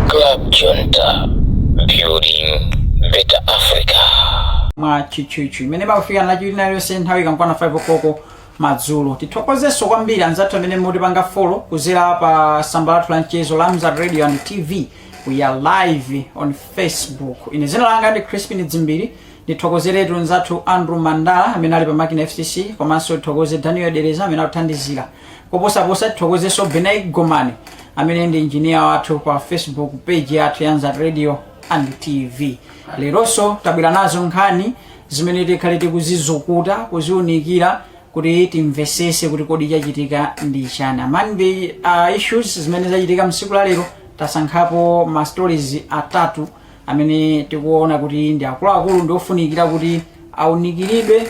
Club Junta, building better Africa. mwa tchutchutchu imene imakufikani Lachinayi lililonse nthawi ikamakwana 5 o'clock madzulo tithokozenso kwambiri anzathu amene mukutipanga follow kuzera pa tsamba lathu la mchezo la Mzati radio and tv we are live on facebook ine dzina langa ndi crispin dzimbiri ndithokozeretu mzathu andrew mandala amene ali pa makina fcc komanso tithokoze daniel dereza amene akuthandizira koposaposa tithokozenso benai gomani amene ndi injiniya wathu pa facebook page yathu ya Mzati radio and tv leronso tabwera nazo nkhani zimene tikhale tikuzizukuta kuziunikira kuti timvesese kuti kodi chachitika ndi chani among the uh, issues zimene zachitika msiku la lero tasankhapo ma stories atatu amene tikuona kuti ndi akuluakulu ndi ofunikira kuti aunikiridwe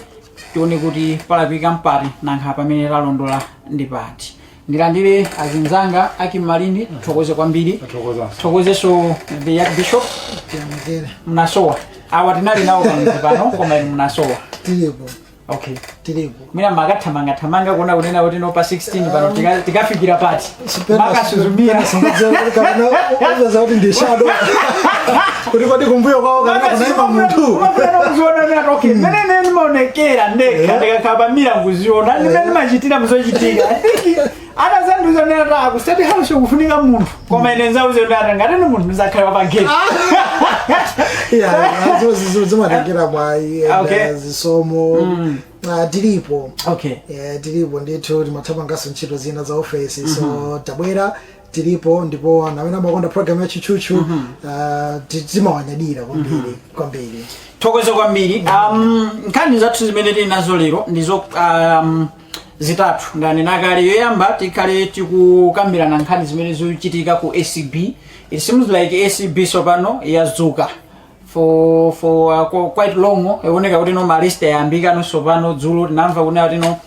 tione kuti palakwika mpati nanga pamene talondola ndi pati ndilandire azinzanga a Kimalindi tithokoze kwambiri tithokozeso the young bishop mnasowa awa tinali nawo pamodzi pano koma inu mnasowa tilipo okay tilipo mwina mumakathamanga thamanga kuona kunena kuti no pa 16 pano tika- tikafikira pati mumakasuzumira uzaza kuti ndi shadow kuti kodi kumbuyo kwawo kana kunaima munthu mmene ndimaonekera ndekha ndikakhala pa mirror kuziona ndimene ndimachitira muzochitika atazandiuza kuti ata ku state house kufunika munthu koma ine nzauze kuti ata ngati ndi munthu ndizakhala pa gate zimatengera mwayi Okay. and, uh, zisomo Ah, tilipo okay Eh, tilipo ndithu timathamangaso ntchito zina za ofesi so tabwera tilipo ndipo anthu amene amakonda program ya tchutchutchu ah, ti- timawanyadira kwambiri kwambiri tithokoze kwambiri um, nkhani zathu zimene tili nazo lero ndizo um, zitatu ndanena kale yoyamba tikhale tikukambirana nkhani zimene zikuchitika ku acb it seems like acb tsopano yadzuka for for uh, qu- quite long ikuoneka kuti no ma arrest ayambika no tsopano dzulo tinamva kunena kuti no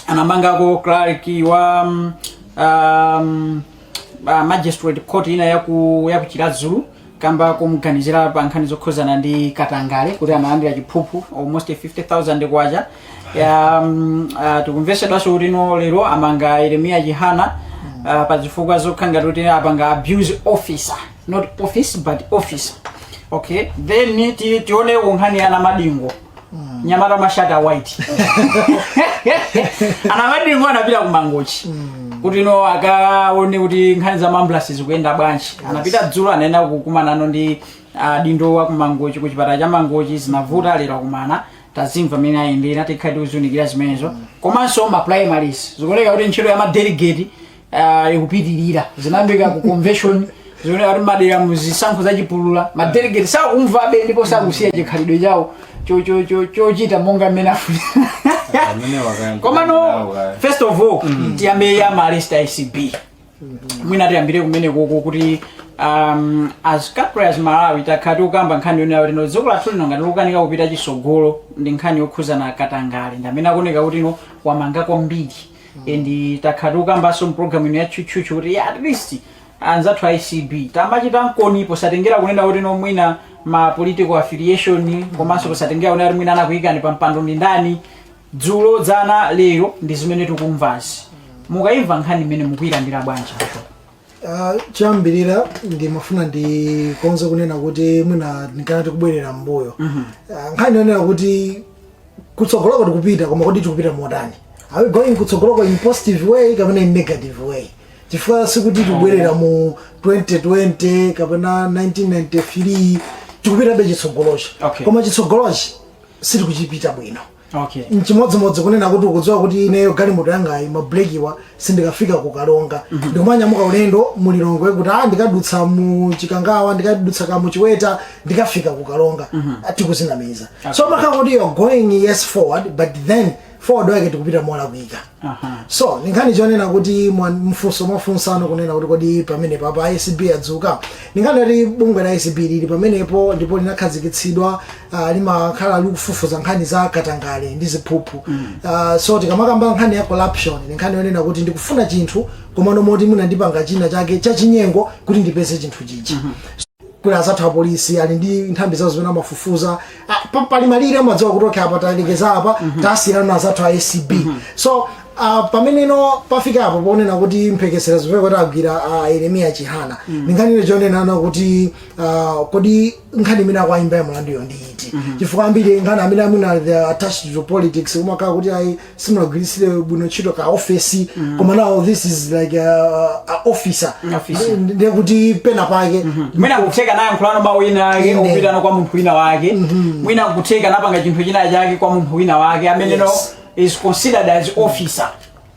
anamangako clerk wa um, um, uh, magistrate court ina yaku ya ku Chiradzulo kamba kumuganizira pa nkhani zokhudzana ndi katangale kuti analandira chiphuphu almost 50000 kwacha ya um, uh, tikumvesedwanso kuti no lero amanga yeremiya chihana uh, pa zifukwa zokhala ngati kuti apanga abuse officer not office but officer okay then ti- tione nkhani ya Namadingo nyamata Mashati a White anamadingo anapita ku mangochi kuti no akaone kuti nkhani za ma ambulance zikuyenda bwanji anapita dzulo anaenda kukumana ndi adindo a kumangochi ku chipatala cha mangochi zinavuta lero akumana tazimva mmene ayendera tikhala tikuziunikira zimenezo komanso ma primaries zikuoneka kuti ntchito ya madelegate Ah, ikupitirira zinayambika ku convention zimene ati madera mu zisankho zachipulula madelegate sakumvabe ndipo sakusiya chikhalidwe chawo cho- cho- cho- chochita monga mmene afuna amene wakayamba komano first of all tiyambe ya malist ACB mwina tiyambire kumene koko kuti um, as country as malawi takhala tikukamba nkhani yonena kuti no dziko lathu lino ngati likukanika kupita chitsogolo ndi nkhani yokhuzana katangale ndi amene akuoneka kuti no wamanga kwambiri and takhala tikukambanso mpulogalamu ino ya tchutchutchu kuti at least anzathu a ACB tamachita nkoni posatengera kunena kuti no mwina ma political affiliation komanso posatengera kunena kuti mwina anakuyikani pa mpando ndi ndani dzulo dzana lero ndi zimene tikumvazi mukayimva nkhani imene mukuyilandira bwanji Ah, choyambirira ndimafuna ndikonze kunena kuti mwina ndikanati tikubwerera mbuyo Ah, nkhani yonena kuti kutsogoloko tikupita koma kodi tikupita motani are we going kutsogoloko in positive way kapena in negative way chifukwa sikuti tikubwerera mu 2020 kapena 1993 tikupitabe chitsogolochi Okay. koma chitsogolochi sitikuchipita bwino okay nchimodzimodzi kunena kuti ukudziwa kuti ineyo galimoto yangayi mabrekiwa sindikafika ku Karonga ndikumanyamuka ulendo mulilongwe kuti a ndikadutsa mu chikangawa ndikadutsa ka muchiweta ndikafika ku Karonga tikuzinamiza so imakhala kuti you're going yes forward but then forward wake tikupita molakwika so ndi nkhani yonena kuti mwa- mfunso mwafunsano kunena kuti kodi pamene papa acb yadzuka ndi nkhani yoti bungwe la acb lili pamenepo ndipo linakhazikitsidwa uh, limakhala likufufuza nkhani za katangale ndi ziphuphu uh, so tikamakamba nkhani ya corruption ndi nkhani yonena kuti ndikufuna chinthu komano moti ndipanga china chake chachinyengo kuti ndipeze chinthu chichi kuli azathu apolisi ali ndi nthambi zawo zimene amafufuza Ah, pa- pali malire amadziwa kuti okay apa talekeza apa tasiyirana ndi azathu a acb so ah, pameneno pafika apo ponena kuti mphekesera zimene kuti agwira ah, yeremiya chihana ndi nkhani yonena kuti ah, kodi nkhani imene akuwayimba mulanduyo ndi iti chifukwa ambiri nkhani zimene amuna they are attached to politics umakhala kuti ayi simunagwiritsire bwino ntchito ka office koma now this is like a, a officer Officer. Ndi- ndiye kuti pena pake mwina kutheka naye ayankhulano mawu ena ake Inde. opita kwa munthu wina wake mwina kutheka anapanga chinthu china chake kwa munthu wina wake ameneyo Yes. is considered as officer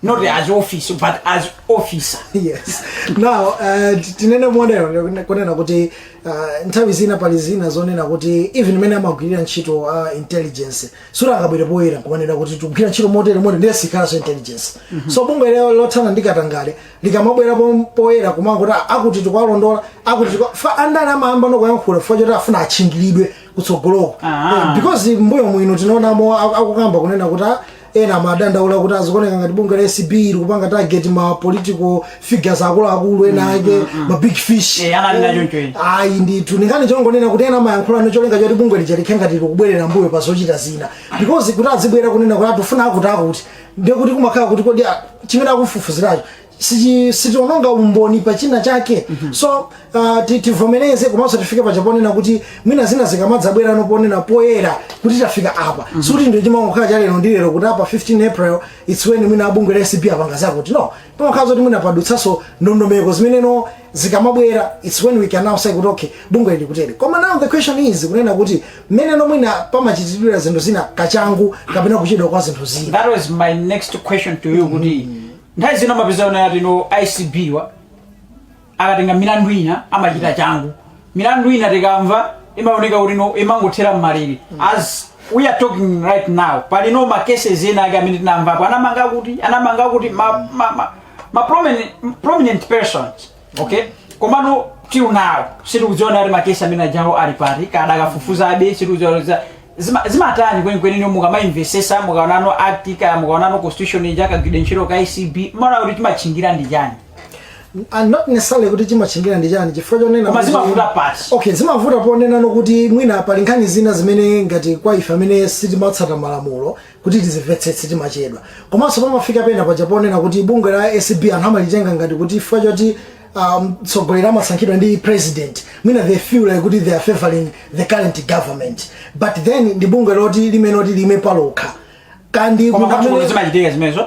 not as office but as officer yes now uh, ti- tinene motero kunena kuti uh, nthawi zina pali zina zonena kuti even mmene amagwirira ntchito uh, intelligence sungakabwere poyera nkumanena kuti tikugwirira ntchito motere motere ndiye sikhalanso intelligence so bungwe ilo lothana ndi katangale likamabwera po- poyera kumangoti "Ah, akuti tikwalondola akuti tikwa-" apa andale amayambano kuyankhula chifukwa choti afuna atchingilidwe kutsogoloko Ah. Eh, because mmbuyo muno tinaonamo aku- akukamba kunena kuti "Ah, ena amadandaula kuti zikuoneka ngati bungwe la acb likupanga target ma political figures akuluakulu ena ake ma big fish Eh, amanena choncho ena. ayi ndithu ndi nkhani yongonena kuti ena amayankhula ndi cholinga choti bungwe lija likhale ngati likubwerera mbuyo pa zochita zina because kuti azibwera kunena kuti tikufuna akuti akuti ndiye kuti kumakhala kuti kodi a- chimene akufufuziracho sichi- sichiononga umboni pa china chake so uh, ti- tivomereze komanso tifike paja ponena kuti mwina zina zikamadzabwerano ponena poyera kuti tafika apa sikuti ndiye chimangokhala cha lero ndi lero kuti apa 15 april its when mwina abungwe la acb apanga zakuti no pamakhala zoti mwina padutsanso ndondomeko zimenezo zikamabwera its when we can now say kuti okay bungwe likutero koma now the question is kunena kuti mmene no mwina amachitira zinthu zina kachangu kapena kuchedwa kwa zinthu zina that was my next question to you kuti nthawi zina mumapezano ayi no acb wa akatenga milandu ina amachita changu milandu ina tikamva imaoneka kuti no imangothera mmalere as we are talking right now pali no ma cases ena ake amene tinamvapo anamanga akuti anamanga akuti ma, ma, ma, ma prominent, prominent persons okay komano till now sitikudziwa kuti makesi amene ajawo ali pati kaya akufufuzabe sitikudziwa za- zima- zimatani kwenikweni no mukamaimvetsetsa mukaonano act ija mukaonano constitution ija kagwiridwe ntchito ka acb mumaona kuti chimatchingira ndi chani and not necessarily kuti chimatchingira ndi chani chifukwa chonena Koma kuti- zimavuta pati. okay zimavuta ponenano kuti mwina pali nkhani zina zimene ngati kwa ife amene sitimatsata malamulo kuti tizimvetsetse timachedwa komanso pamafika pena paja ponena kuti bungwe la acb anthu amalitenga ngati kuti chifukwa choti ah, mtsogoleri amasankhidwa ndi president mwina they feel like kuti they are favoring the current government but then ndi bungwe loti limene loti liime palokha and koma munthu amene- kwathukuno zimachitika zimenezo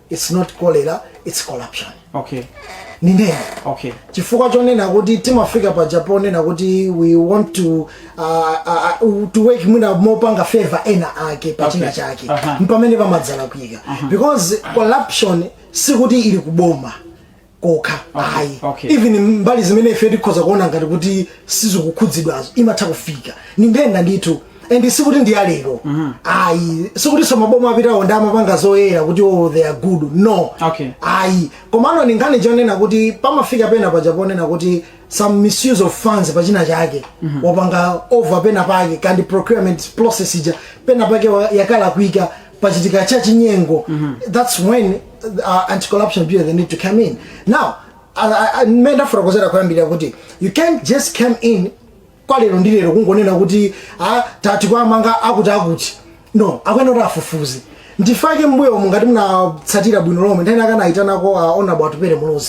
its not cholera its corruption okay nthenda okay chifukwa chonena kuti timafika paja ponena kuti we want to uh, uh, uh, to work mwina mopanga favor ena ake pa china Okay. chake Aha. mpamene pamadzalakwika because corruption sikuti ili kuboma kokha Okay, ayi okay. even mbali zimene ife tikhoza kuona ngati kuti sizikukhudzidwazo imatha kufika. Ndi nthenda ndithu and sikuti ndi yalero ayi sikutinso maboma apitawo ndi omwe amapanga zoyera kuti oh, they are good no Okay. ayi komano ndi nkhani chonena kuti pamafika pena paja ponena kuti some misuse of funds pachina chake wapanga over pena pake kodi procurement process ija pena pake wa- yakalakwika pachitika cha chinyengo that's when uh, anti corruption bureau they need to come in now mmene ndafotokozera kuyambirira kuti you can't just come in kwa lero ndi lero kungonena kuti ah, tati kawamange akuti akuti no akuyenera kuti afufuze ndi chifukwa chake mmbuyomu ngati munatsatira bwino lomwe nthawi ina anayitanako uh, onabwatupere mulozi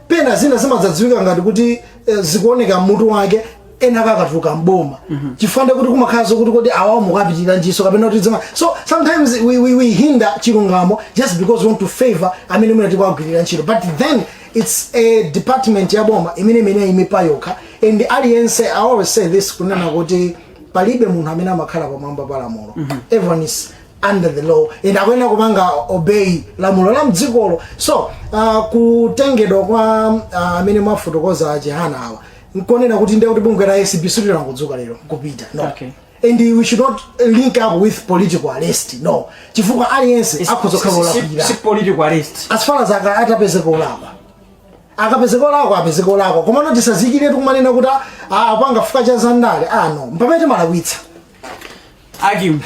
pena zina zimadzadziwika ngati kuti eh, zikuoneka mutu wake ena akatuluka mboma chifukwa choti kumakhala zokuti kodi awawo mukapitira njiso kapena kuti dzima so sometimes we, we, we hinder chilungamo just because we want to favor amene mwina tikuwagwirira ntchito but then it's a department ya boma imene imene imaima payokha and aliyense i always say this kunena kuti palibe munthu amene amakhala pamwamba pa lamulo everyone is under the law and akuyenera kupanga obey lamulo la mdzikolo so uh, kutengedwa kwa uh, amene mwafotokoza achihana awa nkonena kuti ndiye kuti bungwe la acb silinangodzuka lero kupita no Okay. and we should not link up with political arrest no chifukwa aliyense akhoza kukhala olakwira si political arrest as far as aka- atapezeka olakwa akapezeka olakwa apezeka olakwa komano tisafikiretu kumanena kuti "Ah, ah, apanga chifukwa cha zandale no mpamene timalakwitsa akim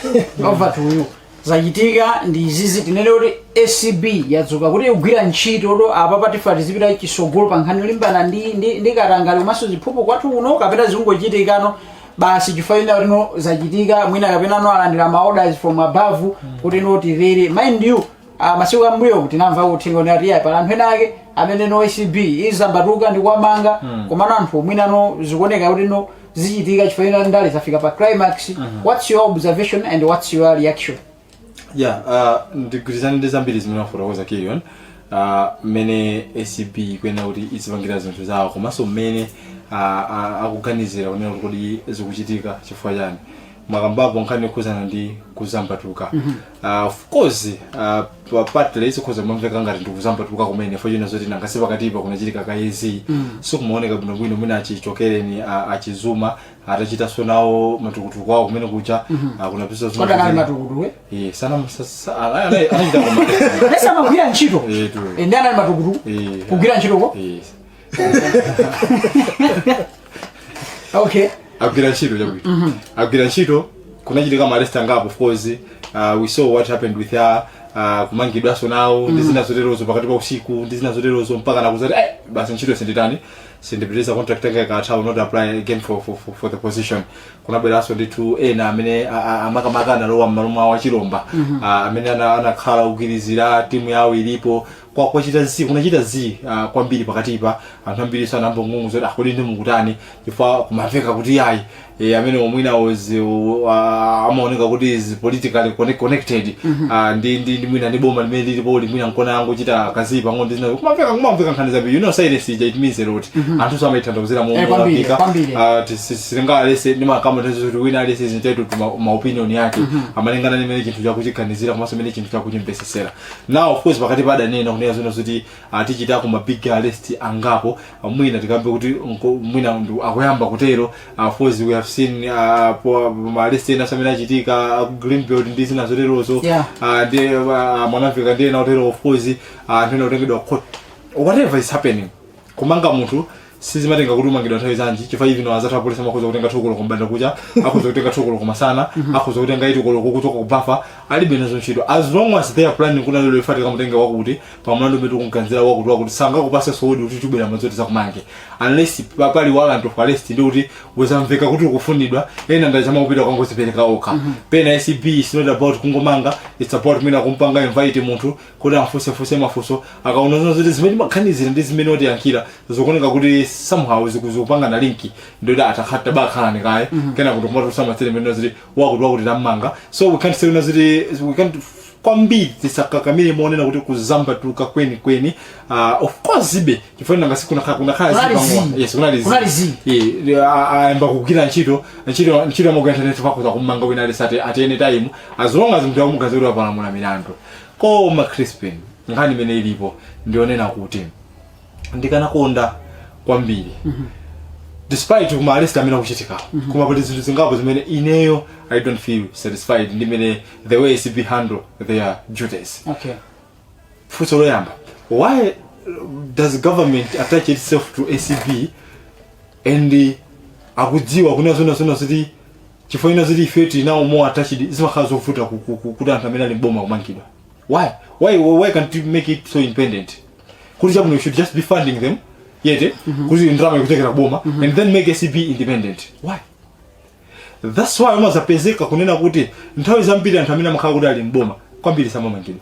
over to you zachitika ndi izizi tinene kuti acb yadzuka kuti ikugwira ntchito ndiye apa pafika tizipita chisogolo pa nkhani yolimbana ndi, ndi, ndi katangale komanso ziphuphu kwathu kuno kapena zikungochitikano basi chifukwa china kuti no zachitika mwina kapena no alandira ma orders from above kuti no tiyeni mind you ah, masiku ambuyo tinamva uthenga kuti ati pali anthu ena ake amene no acb idzambatuka ndi kuwamanga komano anthu mwina no zikuoneka kuti no zichitika chifukwa china ndale zafika pa climax what's your observation and what's your reaction ya uh, ndigwirizane ndi zambiri zimene wafotokoza kilion uh, mmene acb ikuyenera kuti izipangira zinthu zawo komanso mmene uh, uh, akuganizira kunena kuti kodi zikuchitika chifukwa chani mwakambapo nkhani yokhuzana ndi kudzambatuka Uh, of course uh, pa- partly zikhoza kumamveka ngati ndi kudzambatuka kumene chifukwa china zoti nanga si pakatipa kunachitika kayezi mm. so kumaoneka bwinobwino mwina achichokereni uh, achizuma atachitanso nawo matukutuku awo kumene kuja uh, kunapisa zuma kodi anali kuti- matukutuku Eh, sana msa- sa- ana- ana- anachita koma- pesa amagwira ntchito Eh, tu. Eh, ndi anali matukutuku Eh, kugwira ntchitoko Eh, okay agwira ntchito chabwino agwira ntchito kunachitika ma arrest angapo of course uh, we saw what happened with her uh, kumangidwanso nawo ndi zina zoterozo pakati pa usiku ndi zina zoterozo mpaka nakuzati eh, basi ntchito sinditani sindipitiriza contract yanga ikatha will not apply again for, for, for, for the position kunabweranso ndithu ena amene a- a- makamaka analowa mmalo mwawo a chilomba Ah, amene ana- anakhala ogwirizira timu yawo ilipo kwa kwachita zii kunachita zii uh, kwambiri pakatipa anthu ambiri anayamba kung'ung'udza zoti kodi ndi mukutani chifukwa kumamveka kuti yayi e, ameneyo mwina was uh, amaoneka kuti is politically connect, connected mm -hmm. uh, ndi ndi ndi mwina ndi boma limene lilipoli mwina nkona yangochita ka zii pang'ono ndi zina kumamveka kumamveka nkhani zabi you know silence ija it means a lot mm -hmm. anthu amayitanthauzira mu Eh, kwambiri, mukapika kwambiri. uh, sitingaletse ndimakamba nthawi zoti wina aliyense is entitled to ma opinion yake malingana ndi mene chinthucho akuchiganizira komanso mene chinthucho akuchimvetsetsera now of course pakatipa adanena kunena zona zoti ah, tichitako ma big arrest angapo ah, mwina tikambe kuti nko- mwina ndu- akuyamba kutero ah, of course we have seen ah, po- ma arrest enanso amene achitika ah, ku greenbelt ndi zina zoterozo Yeah. Ah, ndi ah, mwanamvekha ndi ena otero of course ah, anthu ena kutengedwa court whatever is happening kumanga munthu sizimatenga kuti umangidwa nthawi zanji chifukwa even awo anzathu apolisi amakhoza kutenga two koloko kumbandakucha akhoza kutenga two koloko kumasana akhoza kutenga eight koloko kuchoka kubafa alibe nazo ntchito as long as they are planning kuti lero ife tikamutenge wakuti pa mlandu umene tikumganizira wakuti wakuti sangakupatse sowodi kuti tibwera madzulo tizakumange unless pa- pali warrant of arrest ndi kuti uzamveka kuti ukufunidwa ena ndachama kupita kukangozipereka okha pena acb is not about kungomanga it's about mwina kumpanga invite munthu kuti amfunsefunse mafunso akaona zona zoti zimene timamganizira ndi zimene watiyankhira zikuoneka kuti somehow ziku- zikupangana linki ndiyoti atakhatabakhalani kaye kenako ndi kumatulutsa ma statement zoti wakuti wakuti tammanga so we can't say kunena zoti we can't kwambiri tisakakamire monena kuti kudzambatuka kweni kweni uh, of course ibe chifukwa nanga si kunakhala kunakhala Kunali zipangwa. zii. yes kunali Kunali zii. zii ayamba kugwira ntchito ntchito ntchito yamagwira ntchito akhoza kummanga wina aliyense at any time as long as munthu amuganizira kuti wapalamula milandu koma crispin nkhani imene ilipo ndi yonena kuti ndikanakonda kwambiri despite kuma arrest amene akuchitika koma pali zinthu zingapo zimene ineyo i don't feel satisfied ndi mene the way acb handle their duties okay funso loyamba why does government attach itself to acb and uh, akudziwa kunena zona zona zoti chifukwa ina zili if it is now more attached zimakhala zovuta ku- ku- ku- kuti anthu amene ali mboma kumangidwa why why why can't you make it so independent kuti chabwino you should just be funding them yete kuti ndalama ikuchokera kuboma and then make acb independent why that's why umazapezeka kunena kuti nthawi zambiri anthu amene amakhala kuti ali mboma kwambiri samamangidwa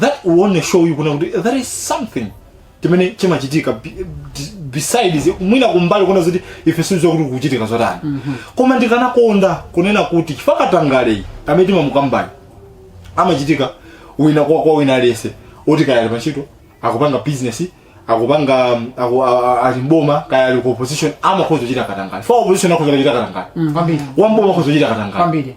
that will show you kunena kuti there is something timene chimachitika be- be- besides mwina kumbali kunena zoti ife sitidziwa kuti kuchitika zotani koma ndikanakonda kunena kuti chifukwa katangaleyu amene timamukambani amachitika kwina kwa kwa wina aliyense oti kaya ali pantchito akupanga business akupanga um, aku- a- a- ali mboma kaya ali ku opposition amakhoza kuchita katangale wa opposition akhoza kuchita katangale kwambiri wamboma akhoza kuchita katangale kwambiri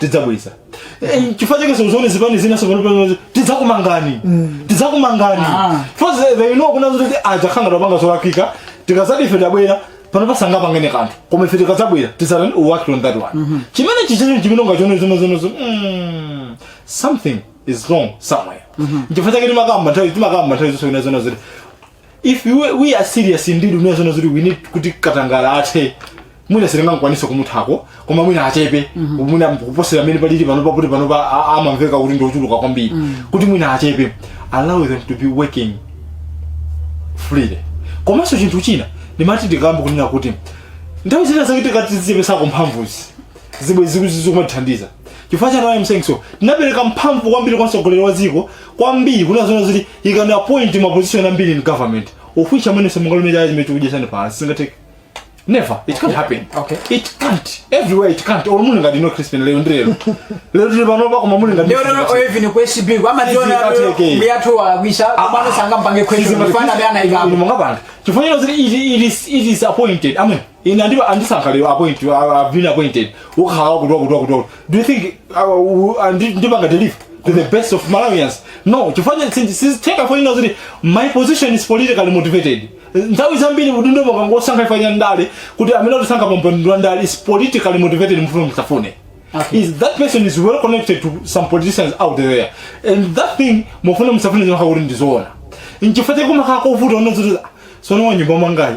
tidzabweza Eh, chifukwa chake muziona zipani zina sopano tidzakumangani tidzakumangani Ah. because they know kunena zoti ajawa akupanga zolakwika tikazati ife tabwera pano pasanapangidwe kanthu koma ife tikadzabwera tidzapanga work on that one chimene chichecho chimene ungachone zonozonozo mm, something is wrong somewhere chifukwa chake timakamba nthawi timakamba nthawi zonse kunena zoona zoti if we, we are serious indeed kunena zoona zoti we need kuti katangala athe mwina sitingakwanitse kumuthako koma mwina achepe mwina kuposera mmene palili pano pakuti pano pa a- amamveka kuti ndiochuluka kwambiri kuti mwina achepe allow them to be working freely komanso chinthu china ndimati ndikambe kunena kuti nthawi zina zake titati tizichepetsako mphamvuzi bwenzi zikumatithandiza chifukwa chani why I'm saying so tinapereka mphamvu kwambiri kwa mtsogoleri wa dziko kwambiri kunena zoona zoti he can appoint ma position ambiri in government of which amene simungalume chala chomwe chikukudyetsani sizingatheke never it can't happen Okay. it can't everywhere it can't or mulinga dino crispin lero ndi lero lero tuli pano pa koma mulinga lero lero even ku ACB Izi amationa kateke. m'biyathu walakwisa komano sangampange question chifukwa ndi yemwe anaikapo mungapanga chifukwa cha zoti it, it, is, it is appointed I mean ine andi- andisankha lero appoint I- I've been appointed kukhala wakutoa kutoa kutoa do you think uh, andi- ndipanga deliver to the best of malawians no chifukwa sizitheka ponena zoti my position is politically motivated nthawi zambiri udindo mukangosankha chifukwa cha ndale kuti amene atisankha pampando wa ndale is politically motivated mufune musafune Okay. is that person is well connected to some politicians out there and that thing mufune musafune zimakhala kuti ndizoona nchifukwa chake kumakhala kovuta kunena zoti tsono wa m'nyumba mwangayi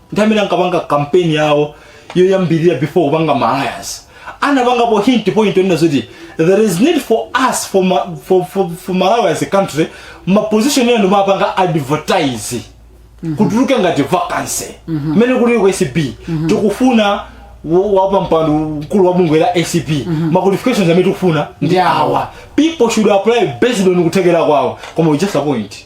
ndi amene ankapanga kampeni yawo yoyambirira before kupanga ma alliance anapangapo hint point onena zoti there is need for us for, ma, for, for, for malawi as a country maposition ena tizipanga advertise kutuluke ngati vacancy mmene kuli ku acb tikufuna wo- wapampando mkulu wa bungwe la acb ma qualifications amene tikufuna ndi Yeah. awa people should apply based on kuthekera kwawo koma we just appoint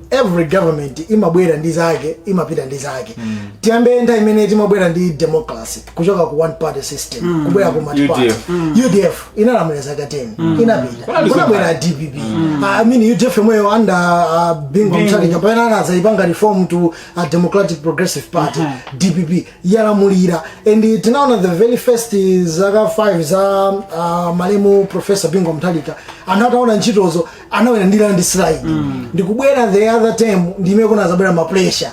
every government imabwera ndi zake imapita ndi zake tiyambe nthawi imene timabwera ndi democracy kuchoka ku one party system kubwera ku multiparty UDF. udf inalamulira zaka 10 inapita kunabwera dpp i mean udf yomweyo under uh, bingu mutharika pamene anazayipanga reform to a democratic progressive party dpp yalamulira and tinaona the very first zaka 5 za uh, malemu professor bingu mutharika anthu anaona ntchitozo anawina ndi landslide ndikubwera the other time ndime kunazabwera ma pressure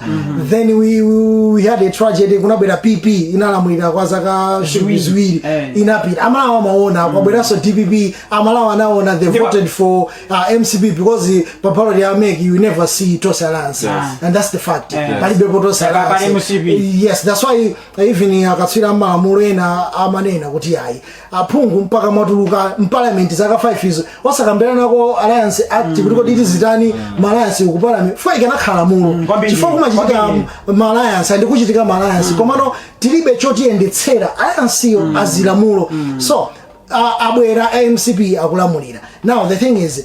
then we, we, we had a tragedy kunabwera pp inalamulira kwa zaka Ziwiri. ziwiri Eh. inapita amalawi amaona kwabweranso dpp amalawi anaona they Ndipo- voted for uh, mcp because pa ballot ya mec you never see tonse alliance Yes. and that's the fact Yes. palibepo tonse Pali alliance MCP. yes that's why even akatswiri amalamulo ena amanena kuti ayi aphungu mpaka mwatuluka m'parliament zaka 5 izo osakambiranako alliance act kuti kodi tizitani ma alliance ku parliament chifukwa ikanakhala lamulo chifukwa kumachitika ma alliance ndi kuchitika ma alliance komano tilibe chotiyendetsera alliance yo azilamulo so a- abwera a mcp akulamulira now the thing is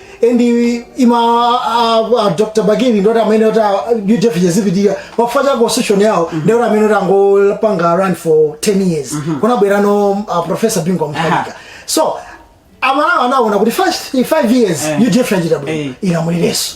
and ima uh, uh, dr bakili nthawi imene yoti udf yadzipitira chifukwa cha constitution yawo mm -hmm. ndi nthawi imene yoti angopanga run for 10 years mm -hmm. kunabwera no uh, professor bingu mutharika so amalawi anaona kuti first 5 years Eh. udf yachita bwino Eh. ilamulirenso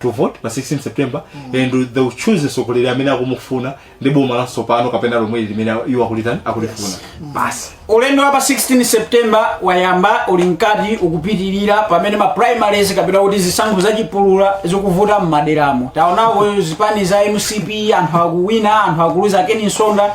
to vote pa 16 september and they will choose mtsogoleri amene akumufuna ndi boma latsopano kapena lomweli limene iwo akulitani akulifuna basi ulendo wa pa 16 september wayamba uli mkati ukupitirira pamene ma primaries kapena kuti zisankho zachipulula zikuvuta m'maderamo taonako zipani za mcp anthu akuwina anthu akuluza kenaka nsonda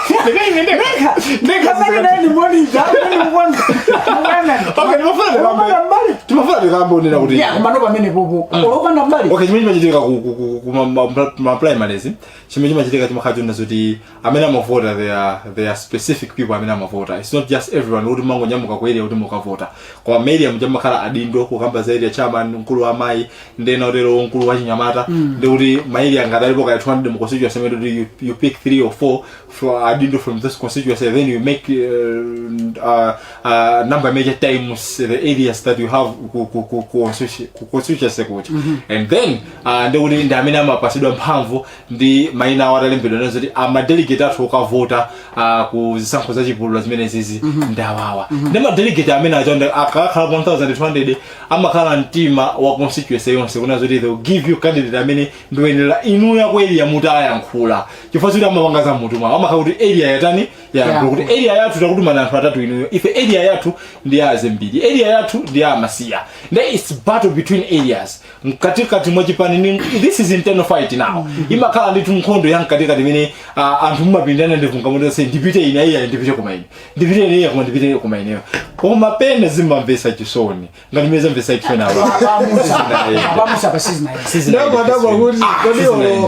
timafuna tikamaonera kuti Yeah, koma no pamene popo. Olopanda mbali. okay chimene chimachitika ku- ku- ku- ku ma- ma- ma- ma primaries chimene chimachitika chimakhala chonena zoti amene amavota they are they are specific people amene amavota it's not just everyone kuti mungonyamuka ku area kuti mukavota koma ma area muja mumakhala adindo kukamba za area chairman mkulu wa amayi ndinene utero mkulu wa achinyamata ndi kuti ma area ngati alipo kaya 200 mu constituency imene kuti you, you pick 3 or 4 from adindo from this constituency then you make uh, uh, uh, number maybe times the areas that you have ku, ku, ku, ku, constitu- ku constituency kuti and then uh, ndi kuti ndi amene amapatsidwa mphamvu ndi maina awo amalembedwa kunena zoti amadelegate athu okavota ah, ku zisankho za chipulula zimenezizi ndawawa ndi madelegate amene aja ndi- akakhala 1200 amakhala mtima wa constituency yonse kunena zoti they will give you candidate amene adzawinire inuyo area mtima ayankhula chifukwa choti samapanga za m'mutu mwawo amakhala kuti area yatani yayankhula kuti area yathu takutumani anthu atatu inuyo ife area yathu ndi ya azembiri area yathu ndi ya amasiya nde its battle between areas mkatikati mwa chipani ni this is internal fight now imakhala ndithu nkhondo ya mkatikati imene ah, anthu mumapindana ndi kungomati onse ndipite ine iya ndipite koma ine ndipite ine iya koma ndipite koma ineyo koma pena zimamvesa chisoni ngati mmene zamvesa chisoni awa abamusa abasizi naye Sizinayenda, sizinayenda.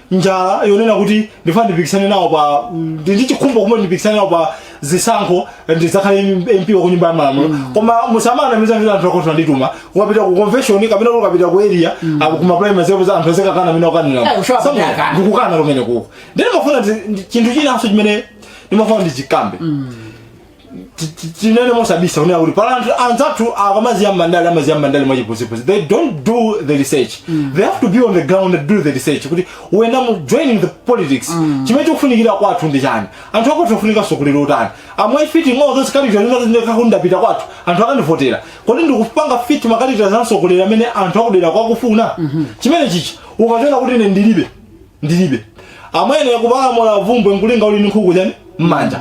njala yonena kuti ndifuna ndipikisane nawo pa ndi ndi chikhumbo kumwe ndipikisane nawo pa zisankho ndidzakhale mp wa kunyumba ya malamulo koma musamanamize kuti anthu akwathu andituma ukapita ku convention kapena kuti ukapita ku area apo kuma primaries apo anthu azikakukana amene Eh, ukanira ushawa kuti Samuel, akana. ndikukana kumene kuko ndiye ndimafuna ndi- ndi- chinthu chinanso chimene ndimafuna ndichikambe ti- ti- tinene mosabisa kunena kuti pali anthu anzathu akamadziwa mandale amadziwa mandale mwachiputsiputsi they don't do the research they have to be on the ground and do the research kuti when I'm joining the politics chimene chikufunikira kwathu ndi chani anthu akwathu akufuna utsogoleri wotani am i fitting all those characters kunena kuti ndikati ndapita kwathu anthu akandivotera kodi ndikupanga fit ma characters a mtsogoleri amene anthu akudera akufuna chimene chichi ukachona kuti ine ndilibe ndilibe amwene kupalamula vumbwe nkulinga uli ndi nkhuku chani mmanja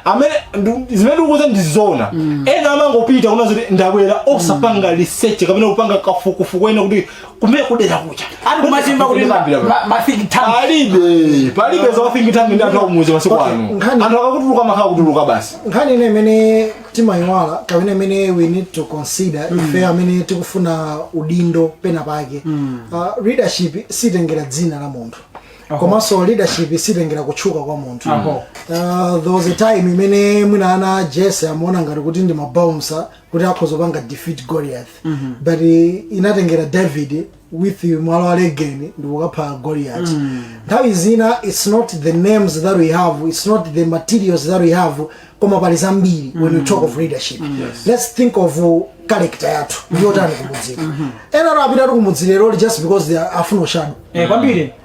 amene ndu- zimene ndikukuuza ndizona ena amangopita kunena zoti ndabwera osapanga research kapena kupanga kafukufuku kunena kuti kumene kudera kucha Ati kumatchula kuti ma- ma- ma think tank. palibe palibe za think tank ndi anthu akumudzi masiku Okay, ano nkhani- anthu akakutulukira amakhala akutulukira basi nkhani ine imene timayiwala kapena imene we need to consider mm. ife amene tikufuna udindo pena pake mm. uh, leadership sitengera dzina la munthu komanso leadership sitengera kutchuka kwa munthu uh, there was a time imene mwina ana a Jese amaona ngati kuti ndi mabounsa kuti akhoza kupanga defeat goliath mm -hmm. but uh, inatengera david with mwala wa legeni ndikukapha goliat nthawi zina its not the names that we have its not the materials that we have koma pali zambiri when we talk of leadership let's think of uh, character yathu ndiyotani kumudzi lero ena apita kumudzi lero just because they are akufuna ushado Eh, kwambiri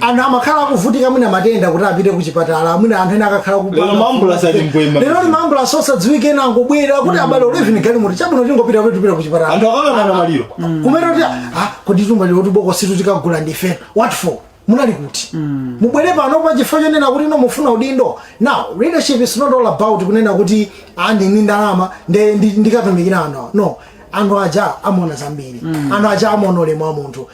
anthu amakhala akuvutika mwina matenda kuti apite kuchipatala mwina anthu ena akakhala ku- Lero maambulasi ali mbwee. lero ni maambulasi osadziwika ena angobwera kuti abale eleven galimoto chabwino tingopita kuti tipite kuchipatala Anthu akakhala ndi maliro. kumene kuti ah kodi timve lero tibokositu tikagula ndife what for munali kuti mubwere pano pa chifukwa chonena kuti no mufuna udindo now leadership is not all about kunena kuti ah ndili ndi ndalama nde ndi- ndikatumikira anthu awa." no anthu aja amaona zambiri anthu aja amaona ulemu wa munthu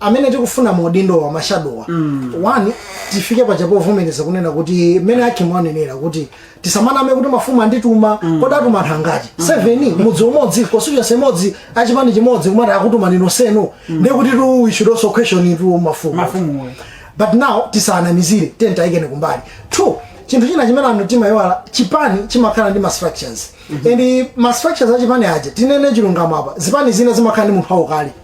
amene tikufuna maudindowa mashadowa one tifike paja povomereza kunena kuti mmene ake mwanenera kuti tisamaname kuti mafumu andituma kodi atuma anthu angati seven mudzi umodzi constituency imodzi achipani chimodzi kumati akutuma inu nonsenu ndiye kuti tu we should also question mafumu Mafumu. but now tisanamizire tiyeni tiwayike kumbali two chinthu china chimene anthu timayiwala chipani chimakhala ndi ma structures and ma structures a chipani aja tinene chilungamo apa zipani zina zimakhala ndi munthu wankulu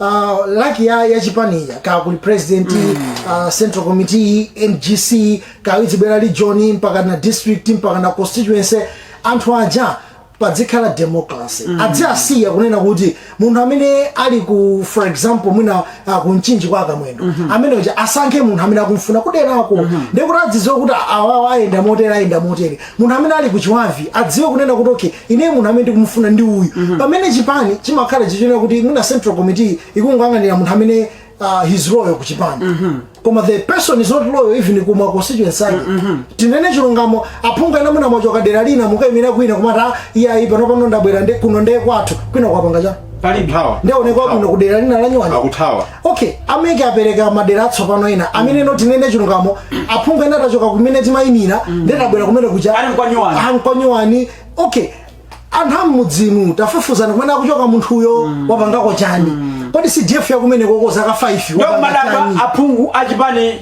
uh, like ya, ya chipani ija ka kuli president mm. uh, central committee ngc kawizibwera region mpaka na district mpaka na constituency anthu aja padzikhala democracy mm. adziasiya kunena kuti munthu amene ali ku for example mwina uh, kumchinji kwa akamwendo mm -hmm. amene uja asankhe munthu amene akumfuna kuderako mm -hmm. ndekuti adzidziwe kuti awawa ayenda motere ayenda motere munthu amene ali kuchiwavi adziwe kunena kuti okay ineyo munthu amene ndikumufuna ndi uyu pamene chipani chimakhala chichonera kuti mwina central committee ikungoyang'anira munthu amene uh, his loyal ku chipani koma the person is not loyal even ku ma constituency ake tinene chilungamo aphungu ena mwina mwachoka dera lina mukaimira kwina kumati "Ah, iye ayi pano pano ndabwera nde- kuno ndeye kwathu kwina kwapanga chani palibe Kuthawa. ndioneka bwino ku dera lina lanyuwani akuthawa okay ameke apereka madera atsopano ena amene no tinene chilungamo aphungu ena atachoka kumene timayimira ndeti abwera kumene kuja Ali nkwanyuwani. Ah, nkwanyuwani okay anthu a mmudzinu tafufuzani kumene akuchoka munthuyo wapangako chani kodi cdf yakumenekoko zaka 5 wapanga ndikumadabwa chani? aphungu achipani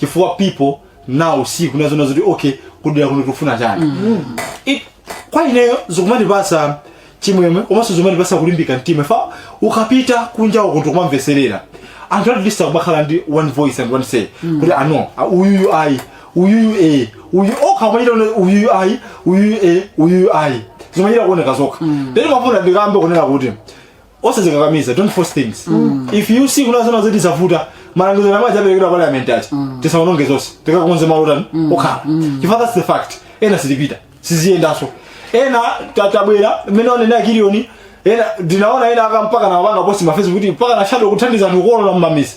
chifukwa people now see kuna zoona zoti okay kudera kuno tikufuna chani It- kwa ineyo zikumatipasa chimwemwe komanso zikumatipasa kulimbika mtima chifukwa ukapita kunja uko ndikumamvetserera anthu at least akumakhala ndi one voice and one say kuti ano ah, uyuyu ayi uyuyu e uyu ukamachita kuti uyuyu ayi uyuyu e uyuyu ayi zimachita kuoneka zokha then ndimafuna ndikambe kunena kuti osadzikakamiza don't force things if you see kuna zoona zoti zavuta malangizo yamwe aja aperekedwa parliament aja tisaononge zonse tikakonze malo athu okhala chifukwa that's the fact ena sitipita siziyendanso ena ta- tabwera mmene anena a Kilioni ena ndinaona ena aka- mpaka na apanga post pa Facebook kuti mpaka na shadow kuthandiza anthu kukolona mmamidzi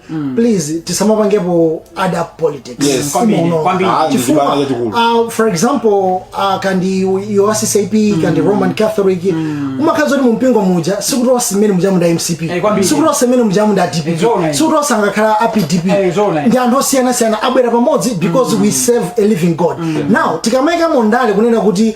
mm. please tisamapangepo other politics yes. chifukwa uh, for example uh, kaya ndi wa CCAP mm. kaya ndi roman catholic mm. umakhala woti mumpingo muja sikuti onse mmene muja ndi a mcp hey, eh, sikuti onse mmene muja ndi a dpp sikuti onse angakhala apdp hey, eh, ndi anthu osiyanasiyana abwera pamodzi because mm. we serve a living god mm. now tikamaikamo ndale kunena kuti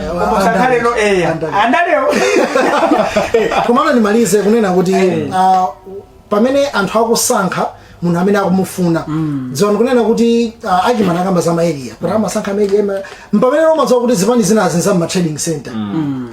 komano ndimalize kunena kuti ah, pamene anthu akusankha munthu amene akumufuna dziwani kunena kuti ah, achimwene akamba za maeria kuti amasankha maeria mpamene umadziwa kuti zipani zinazi nza ma trading center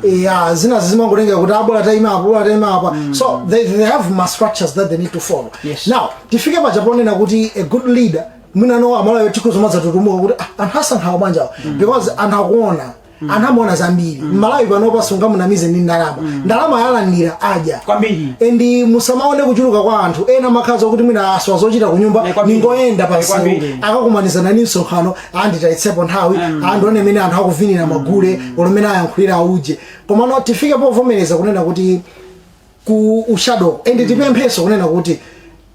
ya zinazi zimangotengera kuti ah bola taima apa ah bola taima apa so they, they have ma structures that they need to follow Yes. now tifike paja ponena kuti a good leader mwinano amalawi tikuzomadzatutumuka kuti ah, anthu asankhawa bwanjawo because anthu akuona anthu amaona zambiri mmalawi panopa sungamunamize ndi ndalama ndalama alandira adya Kwambiri. endi musamaone kuchuluka kwa anthu ena amakhala kuti mwina asowa zochita kunyumba Eh, kwambiri. nkungoyenda Eh, pamsewu kwambiri. akakumanizana ndi msonkhano a nditayitsepo nthawi ndione mmene anthu akuvinira magule olo mmene ayankhulira auje komano tifike povomereza kunena kuti ku ushadow and tipemphenso kunena kuti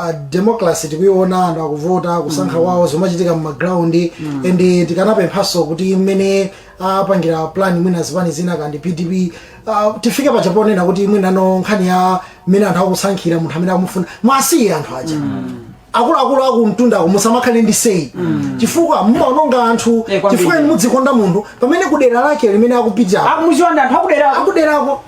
ah democracy tikuiona anthu akuvota kusankha kwawo zomachitika mu ground and tikanapemphanso kuti mmene apangira plan mwina zipani zina kandi pdp ah, tifike paja ponena kuti mwinano nkhani ya mmene anthu akusankhira munthu amene akumufuna mwasiye anthu aja akuluakulu akumtunda ako musamakhale ndi say chifukwa mumaononga anthu Eh, kwambiri. chifukwa inu mudzikonda munthu pamene kudera lake limene akupitako akumudziwa ndi anthu akudera akuderako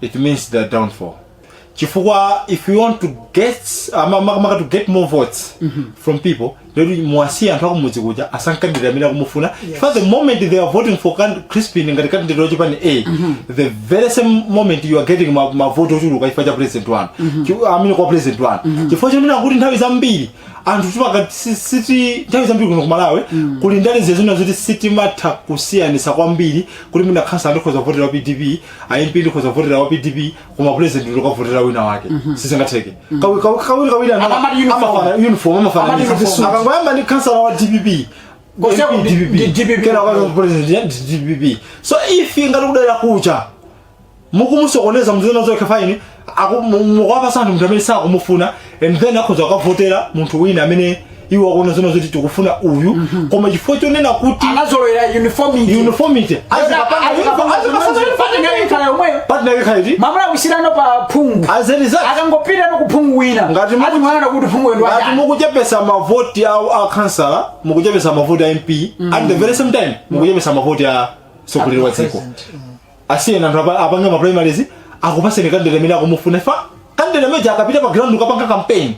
it means their downfall chifukwa if you want to get uh, ma- ma- maka to get more votes from people then muwasiye anthu akumudzi kuja asankhe candidate amene akumufuna chifukwa the moment they are voting for can- crispin ngati candidate wachipani a the very same moment you are getting ma- mavoti ochuluka chifukwa cha president wanu Chi- amene kwa president wanu chifukwa chonena kuti nthawi zambiri anthu timaka- si- siti nthawi zambiri kuno kumalawi kuli ndale zezina zoti sitimatha kusiyanisa kwambiri kuti mwina khansala ndikhoza kuvotera pdp a mp ndikhoza kuvotera wa pdp koma president ndikavotera wina wake sizingatheke Kawi- kawi- kawirikawiri ana- Amamati uniform. amafuna uniform amafuna Amamati ndi- uniform. akangoyamba ndi khansala wa dpp Kose- MP, ndi- ndi DPP. kenako president ya dpp so if ngati kudera kuja mukumusokoneza muzina zokuti fine Aku- mu- mukuwapasa anthu munthu amene sakumufuna and then akhoza kukavotera munthu wina amene iwo akuona zona zoti tikufuna uyu koma chifukwa chonena kuti anazolowera uniformity uniformity azikapanga uniform, azikapasa uniform. party ndiyakhala yomweyo Partner yake khalidi mamuna kusiyirano pa phungu as a result akangopita no kuphungu wina Ngati muku- atimana kuti phungu wenu ngati mukuchepesa mavoti a a councillor mukuchepesa mavoti a mp at the very same time mukuchepesa mavoti a mtsogoleri wa dziko asiyeni anthu apa- apange ma primaries akupaseni candidate amene akumufuna chifukwa candidate ameneyo akapita pa ground kukapanga campaign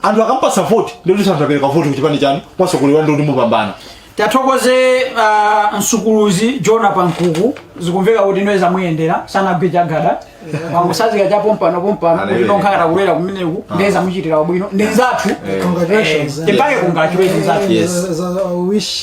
anthu akampasa vote ndiye kuti anthu apereka vote kuchipani chanu kwa mtsogoleri wanu ndiye kuti mupambana tiwathokoze uh, msukuluzi jona pankuku zikumveka kuti iyenso zamuyendera sanagwe chagada wangosanzika cha pompano pompano kuti ndikukhala kudera kumeneku ndiye zamuchitira ubwino ndi nzathu Congratulations. Eh, timpatse congratulations nzathu Yes. Za- za- za- wish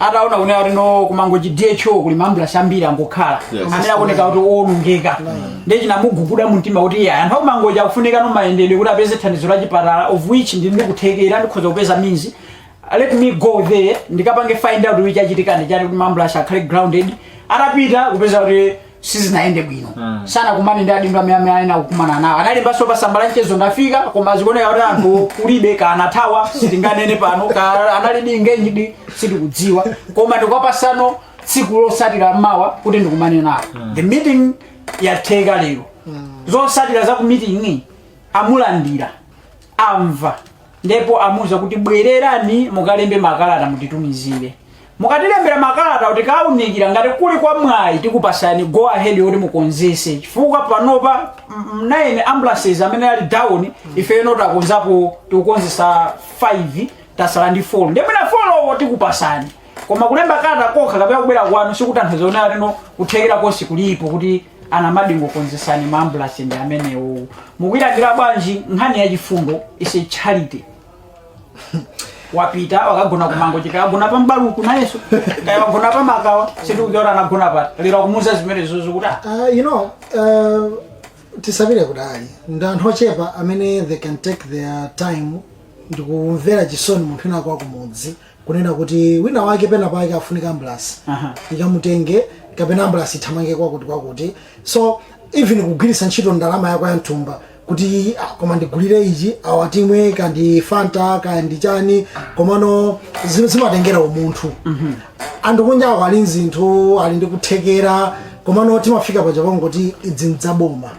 ataona kunena kuti no ku Mangochi dho kuli maambulasi ambiri angokhala Yes. amene akuoneka kuti owonongeka ndiye chinamuguguda mumtima kuti iyayi anthu akumangochi akufunikano mayendedwe kuti apeze thandizo la chipatala of which ndili ndi kuthekera ndikhoza kupeza means let me go there ndikapange find out kuti chachitika ndi chani kuti maambulasi akhale grounded atapita kupeza kuti sizinayende bwino mm. sanakumane ndi adindo amene amene amayenera kukumana nawo analembanso pa tsamba la mchezo ndafika koma zikuoneka kuti anthu kulibe kaya anathawa sitinganene pano kaya analidi engaged sitikudziwa koma andipatsanso tsiku losatira mawa kuti ndikumane nawo mm. the meeting yatheka lero mm. zosatira za ku meeting amulandira amva ndipo amuza kuti bwererani mukalembe makalata mutitumizire Mukatilembera makalatawo tikaunikira ngati kuli kwa mwayi tikupasani go ahead yoti mukonzese chifukwa panopa mm, 9 ambulances amene ali down ifeyo takonzapo tikukonzetsa 5 tatsala ndi 4 ndiye mwina 4 wo tikupasani koma kulemba kalata kokha kapena kubwera kwanu sikutanthauza kuti ayi no kuthekera konse kulipo kuti tingokonzetsani maambulansi ndi amenewo mukuyilandira bwanji nkhani ya chifundo is a charity wapita wakagona ku Mangochi kaya wagona pa M'baluku nayeso kaya wagona pa Makawa sitikudziwa anagona pati lero akumuza zimenezozo kuti ah, Uh, you know, uh, tisapite kutali ndi anthu ochepa amene they can take their time ndikumvera chisoni munthu wina kwa kumudzi kunena kuti wina wake pena pake afunika ambulasi Aha. ikamutenge kapena ambulasi ithamange kwakuti kwakuti so even kugwiritsa ntchito ndalama yako ya m'thumba kuti ah, koma ndigulire ichi awa timwe kaya ndi Fanta kaya ndi chani komano zi- zimatengera umunthu anthu kunja awo ali nzinthu ali ndi kuthekera komano timafika paja pangoti izi ndi zaboma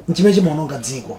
nchimene chimaononga dziko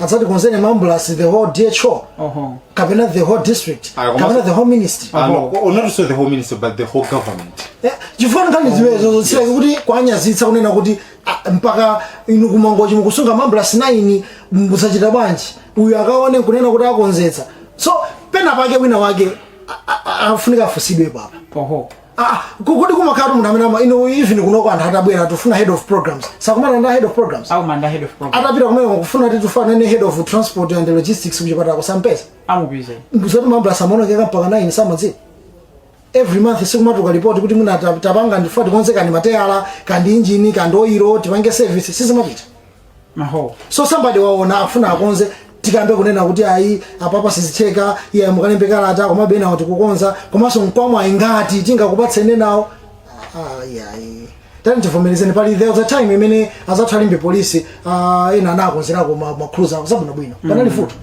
adzatikonzere maambulasi the whole DHO Oho. kapena the whole district Ah, koma- kapena the whole ministry Ah, no, oh, not so the whole ministry but the whole government Eh, chifukwa nkhani zimenezo zosireka kuti kuwanyazitsa kunena kuti ah, mpaka inu ku Mangochi mukusunga maambulasi 9 mukuchita bwanji uyu akaone nkunena kuti akonzetsa so pena pake wina wake a- a- a- afunika afunsidwe apapa Oho. Ah, kodi kumakhala munthu amene ama inu even kunoko anthu atabwera tufuna head of programs sakumana ndi a head of programs akumana ndi a head of program atapita kumene kufuna kuti tikufuna head of transport and logistics kuchipatala kusampeza amupeza ndi zoti ma ambulance amaonongeka mpaka 9 samadziwa every month sikumatuluka report kuti mwina ta- tapanga ndifuna tikonze kaya ndi mateyala kaya ndi injini kaya ndi oilo tipange service sizimapita Aho. So somebody waona afuna akonze tikambe kunena kuti ayi apapa sizitheka iye mukalembe kalata koma pena wati kukonza komanso mkwamwa ayi ngati tingakupatseni nawo ayi ayi tani tivomerezeni pali there was a time imene anzathu a Limbe Police ah, ena anakonzerako makuluza zabwino bwino panali vuto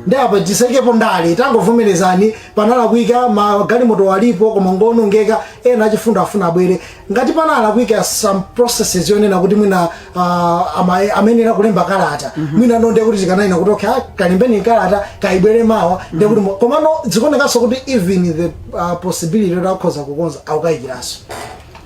ndi apa tisaikepo ndale tangovomerezani panalakwika magalimoto alipo koma ngonongeka ena achifundo afuna abwere ngati panalakwika some processes yonena kuti mwina ah, ama- amayenera kulemba kalata mwina no ndiye kuti tikanayina kuti okay ah, kalembeni kalata kabwere mawa ndiye kuti mu- komano zikuonekanso kuti even the ah, possibility yoti akhoza kukonza akukayikiranso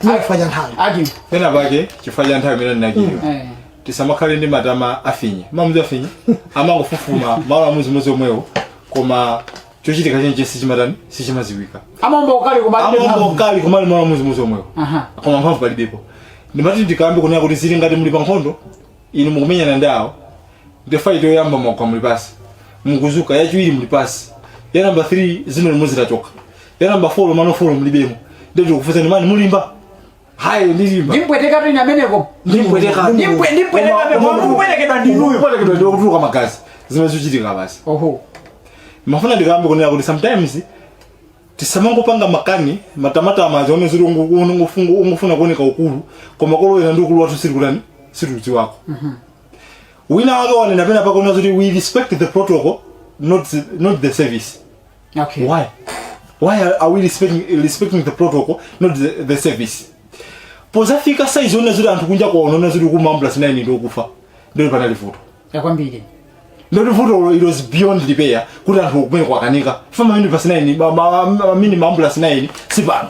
mwina chifukwa cha nthawi ati pena pake chifukwa cha nthawi imene ndinachiliwa eh. tisamakhale ndi matama afinye mamuzi afinye amangofufuma malo amodzimodzi omwewo koma chochitika chenicheni sichimatani sichimaziwika a Mumba ukali kumalibe a Mumba mphamvu. ukali kumalo amodzimodzi omwewo Aha. koma mphamvu palibepo ndimati ndikambe kunena kuti zili ngati muli pa nkhondo inu mukumenyana ndi awo ndi fight yoyamba mwagwa muli pasi mukuzuka yachiwiri muli pasi ya namba 3 zino limodzi lachoka ya namba 4 mano 4 mulibemo ndiye tikufunsani mani mulimba hayi ndilimba ndimpweteka tu ameneyo Ndimpweteka. Ndimpwe- ndimpweteka Koma- peko koma- ndikupwetekedwa ndinuyo Ndikupwetekedwa ndiwe kutuluka magazi zimene zikuchitika basi oho ndimafuna ndikambe kunena kuti sometimes tisamangopanga makani matamatama azioneziri ungofuna kuoneka ukulu koma kolowera ndi ukulu wathu sitikutani sitikudziwako wina wake wanena pena pake kunena kuti we respect the protocol not, the- not the service Okay. Why? Why are, are we respecting, respecting the protocol, not the, the service? pozafika saizi ona zoti anthu kunja kwaona ona zoti ma ambulance 9 ndi okufa ndiye kuti panali vuto Yakwambiri. ndiye kuti vuto it was beyond repair kuti anthu kumene kwakanika ma minibus 9 ma- ma- ma- mini ma ambulance 9 si pano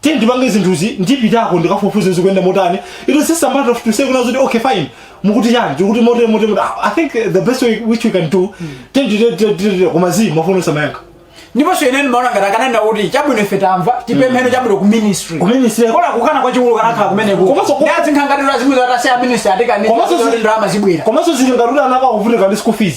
tiye ndipange zinthuzi ndipitako ndikafufuze zikuyenda motani it was just a matter of to say kunena zoti okay fine mukuti chani tikuti motere motere motere. Ah, i think the best way which we can do tiyeni titere tere tere tere koma zii mafuna osamayankha ndiponso ine ndimaona ngati akanena kuti chabwino ife tamva tipempheko chabwino ku ministry Ku ministry. bola kukana kwachikulu kanakhala kumeneko Komanso- ndi azinkhangatiro azimve zoti a ministry atikaniza Komanso kuti zi- ndalama zibwera komanso zili ngati kuti ana akuvutika ndi school fees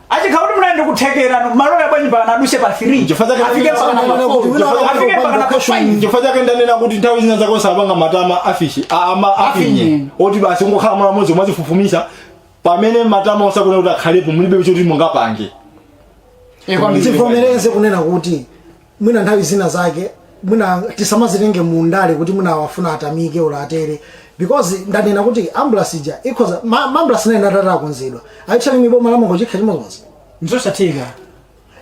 Achikhala kuti munali ndi kuthekera nde mulole bwanji mpaka aduse pa 3. Chifukwa chake Afike ndanena- mpaka ndanena namba kuti 4. wina wake Afike akupanga mpaka namba question. 5. Chifukwa chake ndanena kuti nthawi zina zake osapanga matama afishi a- ama afinye Afinye. oti basi ungokhala malo amodzi mumazifufumisa pamene matama osafunika kuti akhalepo mulibe choti mungapange Eh, kwambiri. tivomereze kunena kuti mwina nthawi zina zake mwina tisamazitenge mu ndale kuti mwina akufuna atamike olo atere because ndanena kuti ambulance ija ikhoza ma, ma ambulance 9 atatha kukonzedwa ayitchali mu boma la Momwe chikha chimodzimodzi ndizosatheka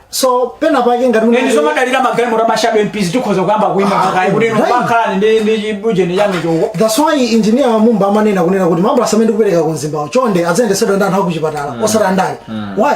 so pena pake ngati mwina- ndi tizingodalira magalimoto a ma shadow mps tikhoza kuyamba kuima Ah, pakali kuti right. nopakhalani ndi ndi chibujeni chanu choko that's why engineer Mumba amanena kunena kuti ma ambulance amene ndikupereka ku mzimbawo chonde adzayendetsedwa ndi anthu akuchipatala osati andale why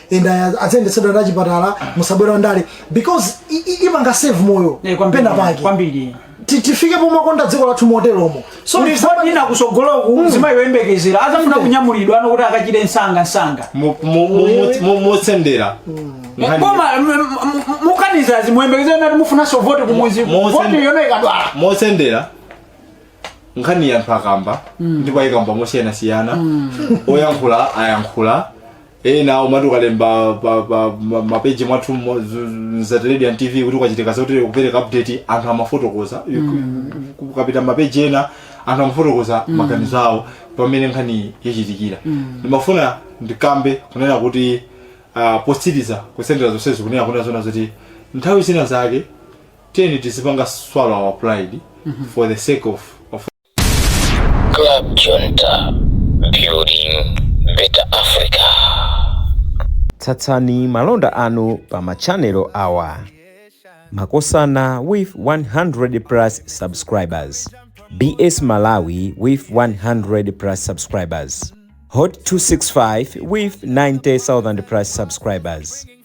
enda aya- aziyendetsedwa ndi achipatala musabwera ndale because i- i- ipanga save moyo Eh, kwambiri, pena pake kwambiri Ti- tifike pomakonda dziko lathu moteromo so kuti it's not- sipoti ina kusogoloku mzimayi oyembekezera azafuna kunyamulidwa pano kuti akachire msanga msanga Mu- mu- mu- mu- mu- motsendera Nkhani- koma mukaniza mzimayi oyembekezera nati mufunanso voti kumudzi Mo- mo- voti yona ikadwala motsendera nkhani ya anthu akamba ndipo ayikamba mosiyanasiyana oyankhula ayankhula ena umati ukalemba pa, pa ma- mapeji mwathu mo- zu- zu- za television tv kuti kwachitika zotere kupereka update anthu amafotokoza ukapita mapeji ena anthu amafotokoza maganizo awo pamene nkhani yachitikira ndimafuna ndikambe kunena kuti uh, potsiriza kusendera zonsezo kunena kunena zona zoti nthawi zina zake tiyeni tizipanga swallow our pride for the sake of, of Club Junta, building better Africa. tsatsani malonda anu pa machanelo awa makosana with 100 plus subscribers bs malawi with 100 plus subscribers hot 265 with 90000 plus subscribers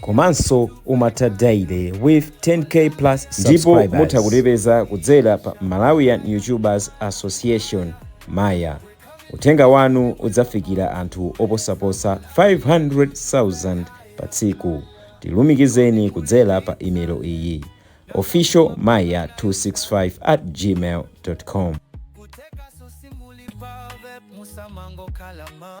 komanso umatha daily with 10k plus subscribers ndipo mutha kutipeza kudzera pa malawian youtubers association maya uthenga wanu udzafikira anthu oposaposa 500,000 pa tsiku tilumikizeni kudzera pa email iyi official maya 265 at gmail com kuteka sosi muli pave musamango kalama